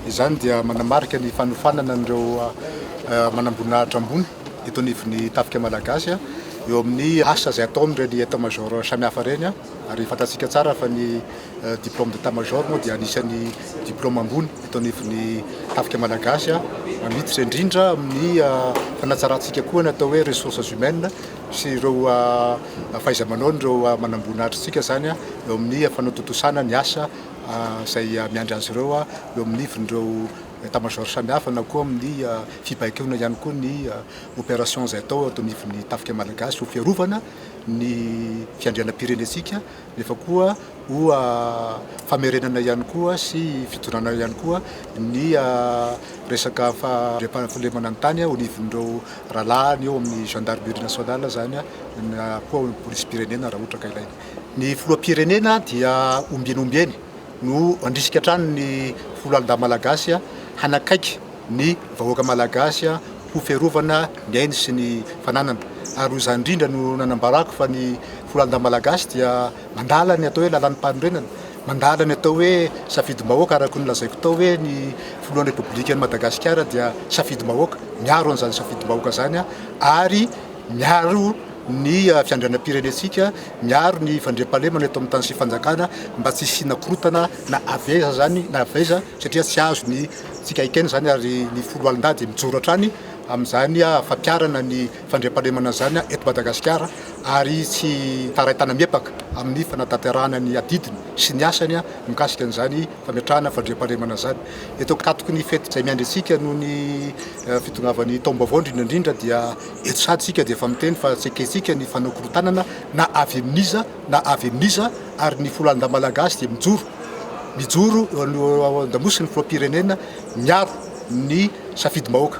Izany dia manamarika ny fanofanana an'ireo manamboninahitra ambony eto anivon'ny tafika malagasy eo amin'ny asa izay ataon'ireny état major samihafa ireny ary fantatsika tsara fa ny diplôme d'état major moa dia anisan'ny diplôme ambony eto anivon'ny tafika malagasy ary miditra indrindra amin'ny fanatsarantsika koa ny atao hoe ressources humaines sy ireo fahaiza-manaon'ireo manamboninahitrantsika izany eo amin'ny fanatontosana ny asa izay miandry azy ireo eo amin'ny ivon'ireo état major samihafa na koa amin'ny fibaikoana ihany koa ny opération izay atao eto anivon'ny tafika malagasy ho fiarovana ny fiandrianam-pirenentsika nefa koa ho famerenana ihany koa sy fidonana ihany koa ny resaka fampandriampahalemana ny tany ao anivon'ireo rahalahiny eo amin'ny gendarmerie nationale izany na koa polisim-pirenena raha ohatra ka ilaina. Ny filoham-pirenena dia ombieny ombieny no handrisika hatrany ny foloalindahy malagasy hanakaiky ny vahoaka malagasy ho fiarovana ny ainy sy ny fananany. Ary ho izany indrindra no nanambarako fa ny foloalindahy malagasy dia mandala ny atao hoe lalam-panorenana, mandala ny atao hoe safidim-bahoaka araka ny lazaiko tao hoe ny filohan'ny Repoblikan'i Madagasikara dia safidim-bahoaka, miaro an'izany safidim-bahoaka izany ary miaro ny fiandrianam-pirenentsika, miaro ny fandriampahalemana eto amin'ny tany sy fanjakana mba tsy hisiana korotana na avy aiza izany na avy aiza satria tsy azo ny tsika haikaina izany ary ny foloalindady mijoro hatrany amin'izany fampiarana ny fandriampahalemana izany eto Madagasikara ary tsy taray tanamiepaka amin'ny fanatanterahana ny adidiny sy ny asany mikasika an'izany fametrahana fandriampahalemana izany. Eto ankatoky ny fety izay miandry antsika noho ny fitongavan'ny taom-baovao indrindra indrindra dia eto sady isika dia efa miteny fa tsy ekentsika ny fanao korotanana na avy amin'iza na avy amin'iza ary ny folo andahy malagasy dia mijoro mijoro eo an-damosin'ny filoham-pirenena miaro ny safidim-bahoaka.